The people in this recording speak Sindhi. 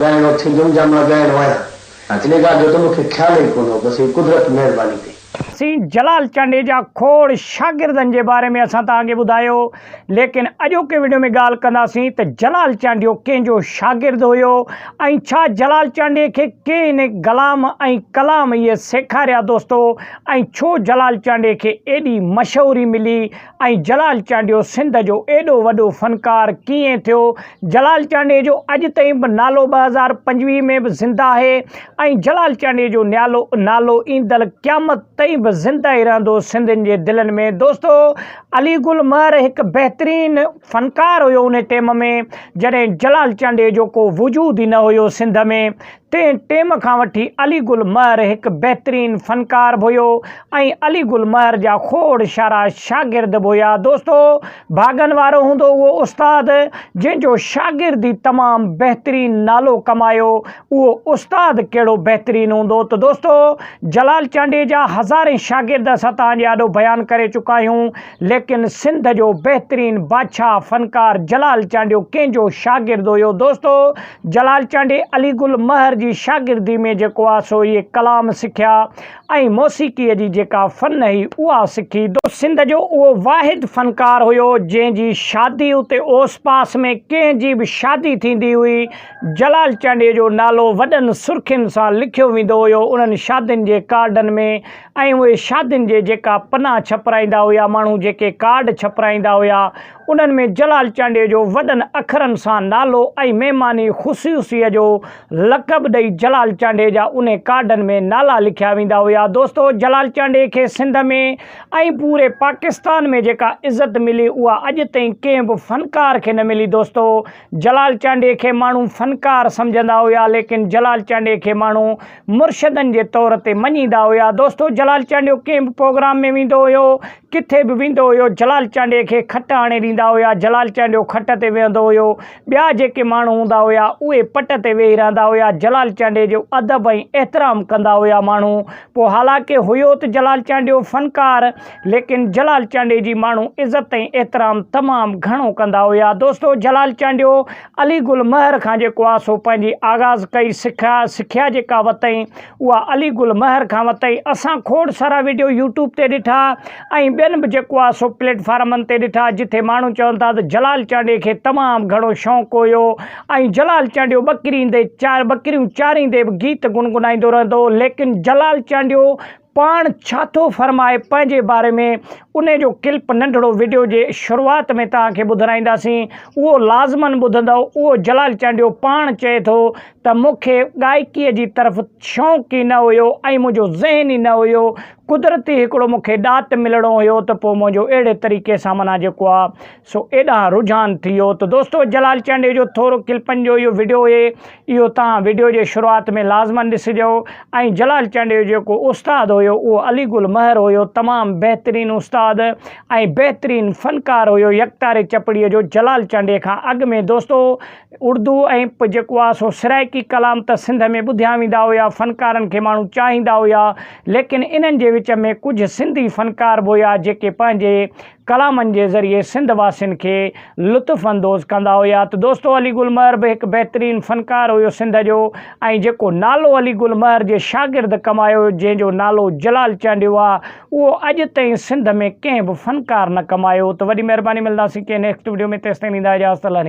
ڳائڻو ٿيندم جا مان ڳائڻ ويان ان ڳالهه جو ته مون کي خيال ئي ڪونه هو بس هي قدرت مهرباني ڪئي. سين جلال چانڊيجا کوڙ شاگردن جي باري ۾ اسان توهان کي ٻڌايو ليڪن اڄوڪي وڊيو ۾ ڳالهه ڪنداسين ته جلال چانڊيو ڪنهن جو شاگرد هيو ۽ ڇا جلال چانڊيي کي ڪنهن گلام ۽ ڪلام اهي سيکاريا دوستو ۽ ڇو جلال چانڊيي کي ايڏي مشهوري ملي ۽ جلال چانڊيو سنڌ جو ايڏو وڏو فنڪار ڪيئن ٿيو؟ جلال چانڊيي جو اڄ تائين به نالو ٻه هزار پنجويهه ۾ به زنده آهي ۽ جلال چانڊيي جو نيالو نالو ايندڙ قيامت تائين به زنده ئي رهندو سنڌين جي دلين ۾ دوستو علي گل مهر هڪ بهترين فنڪار هيو انهي ٽيم ۾ جڏهن جلال چانڊيي جو ڪو وجود ئي نه هيو سنڌ ۾ تنهن ٽيم کان وٺي علي گل مهر هڪ بهترين فنڪار به هيو ۽ علي گل مهر جا کوڙ شارا شاگرد به هيا دوستو ڀاڳن وارو هوندو اهو استاد جنهن جو شاگرد ئي تمام بهترين نالو ڪمايو اهو استاد ڪهڙو بهترين هوندو ته دوستو جلال چانڊيجا هزارين شاگرد اسان توهان جي آڏو بيان ڪري چڪا آهيون ليڪن سنڌ جو بهترين بادشاهه فنڪار جلال چانڊيو ڪنهن جو شاگرد هيو دوستو جلال چانڊي علي گل مهر جي شاگردي ۾ جيڪو آ سو اهي ڪلام سکيا ۽ موسيقي جي جيڪا فن هي اها سکي دو سنڌ جو اهو واحد فنڪار هيو جنهن جي شادي اتي اوس پاس ۾ ڪنهن جي به شادي ٿيندي هئي جلال چانڊي جو نالو وڏن سرخين سان لکيو ويندو هيو انهن شادين جي ڪارڊن ۾ ۽ اهي شادين جي جيڪا پنا ڇپرائيندا هيا ماڻهو جيڪي ڪارڊ ڇپرائيندا هيا انهن ۾ جلال چانڊيو جو وڏن اکرن سان نالو ۽ مهماني خصيوصيء جو لقب ڏئي جلال چانڊيو جا انهي ڪارڊن ۾ نالا لکيا ويندا هيا دوستو جلال چانڊيو کي سنڌ ۾ ۽ پوري پاڪستان ۾ جيڪا عزت ملي اها اڄ تائين ڪنهن به فنڪار کي نه ملي دوستو جلال چانڊيو کي ماڻهو فنڪار سمجهندا هيا ليڪن جلال چانڊيو کي ماڻهو مرشدن جي طور تي مڃيندا هيا. دوستو جلال چانڊيو ڪنهن به پروگرام ۾ ويندو هيو، ڪٿي به ويندو هيو جلال چانڊيي کي کٽ آڻي ڏيندا هيا، جلال چانڊيو کٽ تي ويهندو هيو، ٻيا جيڪي ماڻهو هوندا هيا اهي پٽ تي ويهي رهندا هيا، جلال چانڊيي جو ادب ۽ احترام ڪندا هيا ماڻهو، پوء حالانڪه هيو ته جلال چانڊيو فنڪار ليڪن جلال چانڊيي جي ماڻهو عزت ۽ احترام تمام گهڻو ڪندا هيا. دوستو جلال چانڊيو علي گل مهر کان جيڪو آسو پنهنجي آغاز ڪئي سکيا سکيا جيڪا وتئين اها علي گل مهر کان وتئين اسان کوڙ سارا ويڊيو يوٽيوب تي ڏٺا ۽ ٻين به جيڪو آسو پليٽ فارمن تي ڏٺا جتي ماڻهو چون ٿا ته جلال چانڊيي کي تمام گهڻو شونق هيو ۽ جلال چانڊيو ٻڪريندي ٻڪريون چاريندي به گيت گنگنائيندو رهندو هو ليڪن جلال چانڊيو پاڻ ڇا ٿو فرمائي پنهنجي باري ۾ انهي جو ڪلپ ننڍڙو وڊيو جي شروعات ۾ توهان کي ٻڌرائينداسين اهو لازمن ٻڌندؤ اهو جلال چانڊيو پاڻ چئي ٿو ته مون کي ڳائڪي جي طرف شوق ئي نه هيو ۽ منهنجو ذهن ئي نه هيو قدرتي هڪڙو مون کي ڏات ملڻو هيو ته پوء منهنجو اهڙي طريقي سان منا جيڪو آ سو ايڏانهن رجحان ٿي ويو ته دوستو جلال چانڊيو جو ٿورو ڪلپن جو اهو وڊيو اهي اهو توهان وڊيو جي شروعات ۾ لازمن ڏسجو ۽ جلال چانڊيو جيڪو استاد هيو اهو علي گل مهر هيو تمام بهترين استاد ۽ بهترين فنڪار هيو يڪتاري چپڙي جو جلال چانڊيي کان اڳ ۾ دوستو اردو ۽ پ جيڪو آهي سو سرائيڪي ڪلام ته سنڌ ۾ ٻڌيا ويندا هيا فنڪارن کي ماڻهو چاهيندا هيا ليڪن انهن جي وچ ۾ ڪجهه سنڌي فنڪار به هيا جيڪي پنهنجي ڪلامن جي ذريعي سنڌ واسين کي لطف اندوز ڪندا هيا ته دوستو علي گل مهر به هڪ بهترين فنڪار هيو سنڌ جو ۽ جيڪو نالو علي گل مهر جي شاگرد ڪمايو جنهن جو نالو جلال چانڊيو آ اهو اڄ تائين سنڌ ۾ ڪنهن به فنڪار نه ڪمايو ته وڏي مهرباني ملنداسين ڪنهن نيڪسٽ وڊيو ۾ تيستائين ڏيندا اجازت الله نگهبان.